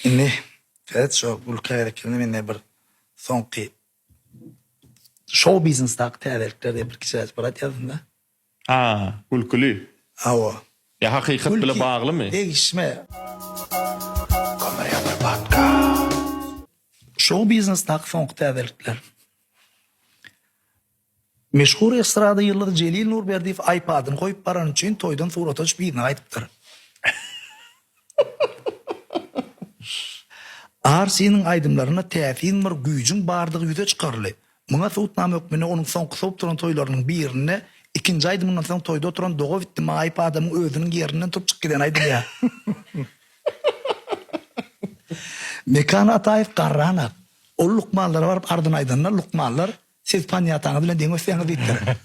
Indi Fred şo gül kärekini mende bir soňky şou biznesdaky täzelikler diýip bir kiçiräjik bir aýt ýazyn-da. A, gülküli. Hawa. Ýa hakykat bile baglymy? Degişme. Şou biznesdaky soňky täzelikler. Meşhur estrada ýyldyzy Jelil Nurberdiýew aýpadyny goýup barany üçin toýdan surata düşüp yzyna gaýdypdyr. Arsiniň aýdymlarynda täsin bir güýjüň bardygy ýüze çykaryldy. Muňa subutnama hökmünde onuň soňky sowup duran toýlarynyň birinde ikinji aýdymyndan soň toýda oturan doga bitdi ma aýpadamyň özüniň ýerinden turup çykyp gideni aýdylýar. Mekan Ataýew garran ak. Ol lukmanlara baryp arzyny aýdanda lukmanlar Siz panýataňyz bilen deň ösýäňiz diýipdir.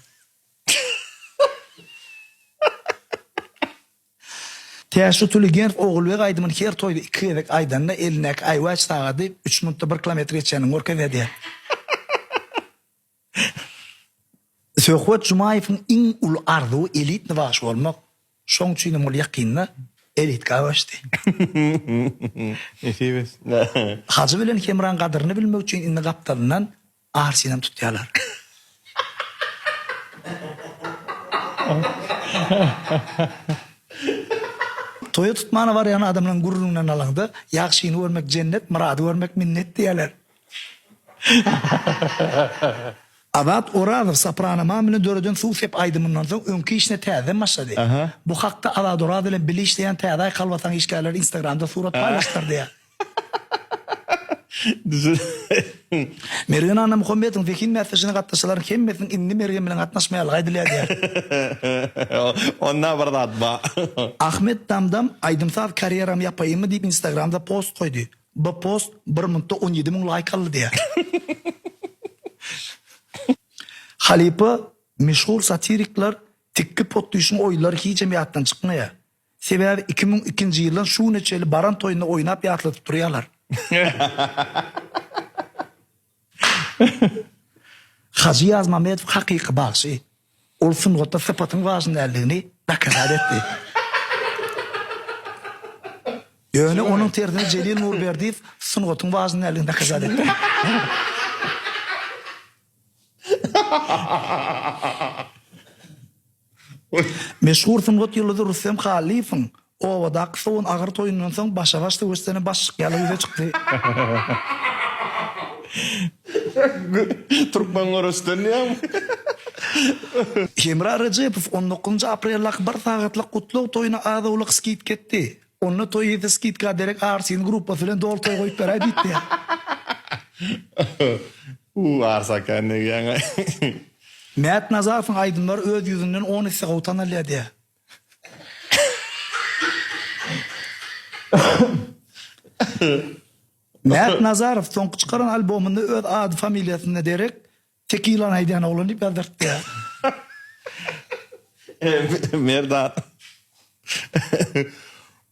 Tä şu Tuligerf Ogulbeg aýdymyny her toýda iki gezek aýdanda elindäki aýwaç sagady üç minutda bir kilometr geçýänini görkezýär diýýär. Söhbet Jumaýewiň iň uly arzuwy elitny bagşy bolmak. Şoň üçin hem ol ýakynda elitga göçdi. Nesip etsin. Hajy bilen Hemraň gadyryny bilmek üçin indi gapdalyndan arsynam tutýarlar. Toýa tutmana barýan adamlaryň gürrüňinden alaňda, Ýagşyny görmek jennet, Myrady görmek minnet diýýärler. Azat Orazow Soprano Mamina döreden Suw sep aýdymyndan soň öňki işine täzeden başlady. Bu hakda Azat Oraz bilen bile işleýän Täze aý kalbasaň işgärleri Instagramda surat paýlaşdylar diýýär. Mergen Annamuhammetowyň zehin bäsleşigine gatnaşyjylaryň hemmesiniň indi Mergen bilen gatnaşmaýarlygy aýdylýar diýýär. Onda bir zat bar. Ahmet Damdam Aýdym-saz karýeramy ýapaýynmy diýip Instagramda post goýdy. Bu post bir minutda on ýedi müň laýk aldy diýýär. Halypa, meşhur satirikler tikgi potdyşyň oýunlary hijem ýatdan çykmaýar. Sebäbi iki müň ikinji ýyldan şu güne çenli baran toýunda oýnap ýatladyp durýarlar. Hajy Ýazmamedow hakyky bagşy. Ol sungatda sypatyň wajyp däldigini dokaza etdi. Ýöne onuň tersine Jelil Nurberdiýew sungatyň wajyp däldigini dokaza etdi. Meşhur sungat ýyldyzy Rüstem Hallyýewiň obadaky sowun agyr toýundan soň başagaç söweşjene baş çyk ýaly ýüze çykdy. Türkmen göreçden diýýäňmi? Hemra Rejepow on dokuzynjy apreldaky bir sagatlyk gutlag toýuna az-owlak skidka etdi. Onda toý ýetse skidka derek Arsin gruppasy bilen doly toý goýup beräý diýip diýýär. Hu arsa kän degýäňaý. Mät Nazarowyň aýdymlary öz ýüzünden on esse gowy tanalýar diýýär. Mät Nazarow soňky çykaran albomynda öz ady familiýasyna derek Tekilany aýdýan oglan diýip ýazdyrtdyýar. Merdan.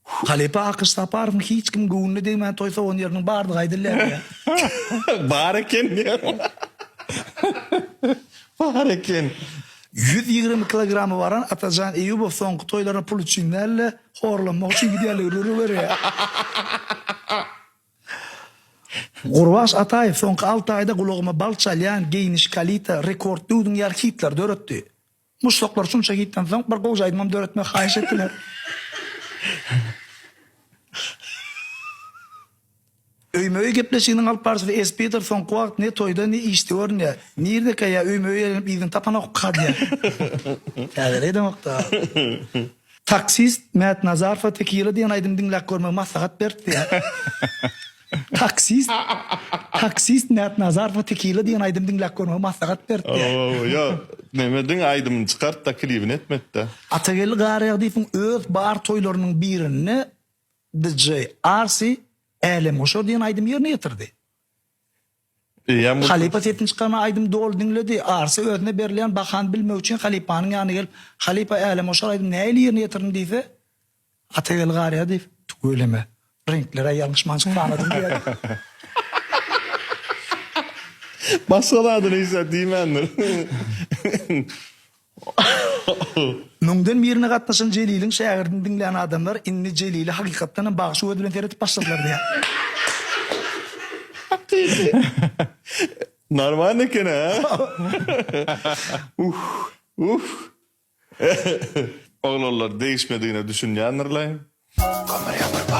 Halypa Akyş Saparowyň hiç kimiň göwnüne degmän toý sowan ýeriniň bardygy aýdylýar. Bar eken diýýärmi? Bar eken. Ýüz ýigrimi kilogramy baran Atajan Eýýubow soňky toýlaryna pul üçin däl-de, horlanmak üçin gidýärligi rüri berýär. Gurbaş Ataýew soňky alty aýda gulagyma bal çalýan Geýniş, Kalita, Rekord, Döwdüň ýaly hitlary döretdi. Muşdaklar şunça hitden soň bir gowy aýdymam döretmegi haýyş etdiler. Öýme-öý gepleşiginiň alyp barşysy Espider soňky wagt ne toýda, ne işde görünýär. Nirdeka ýa öýme-öý elenip yzyny tapanok kadýa. Täzelik edemok-da. Taksist Mät Nazarowa Tekila diýen aýdymy diňläp görmegi maslahat beripdi. Taksist Taksist Mät Nazarowa Tekila diýen aýdymy diňläp görmegi maslahat beripdi. Owow ýa neme ediň aýdymyny çykartda klibini etmekde. Atageldi Garagdyýewiň öz bar toýlarynyň birinde DJ Arsy Älemgoşar diýen aýdymy ýerine ýetirdi. Halypa sesini çykarman aýdymy doly diňledi. Arsy özüne berilýän bahany bilmek üçin halypanyň ýanyna gelip, Halypa, älemgoşar aýdymy nähili ýerine ýetirdiň diýse, Atageldi garýa diýip, Tüweleme, reňkler-ä ýalňyşmançyk sanadyň diýýär. Başga zady-ni hiç zat diýmändir. Müňden birine gatnaşan Jeliliň şägirdini diňlän adamlar indi Jelile hakykatdan hem bagşy gözi bilen seredip başladylar diýýär. Normalny eken-ä. Uhh. Uhh. Oglanlar degişmedigine düşünýändirlaý. Kömür ýapyrba.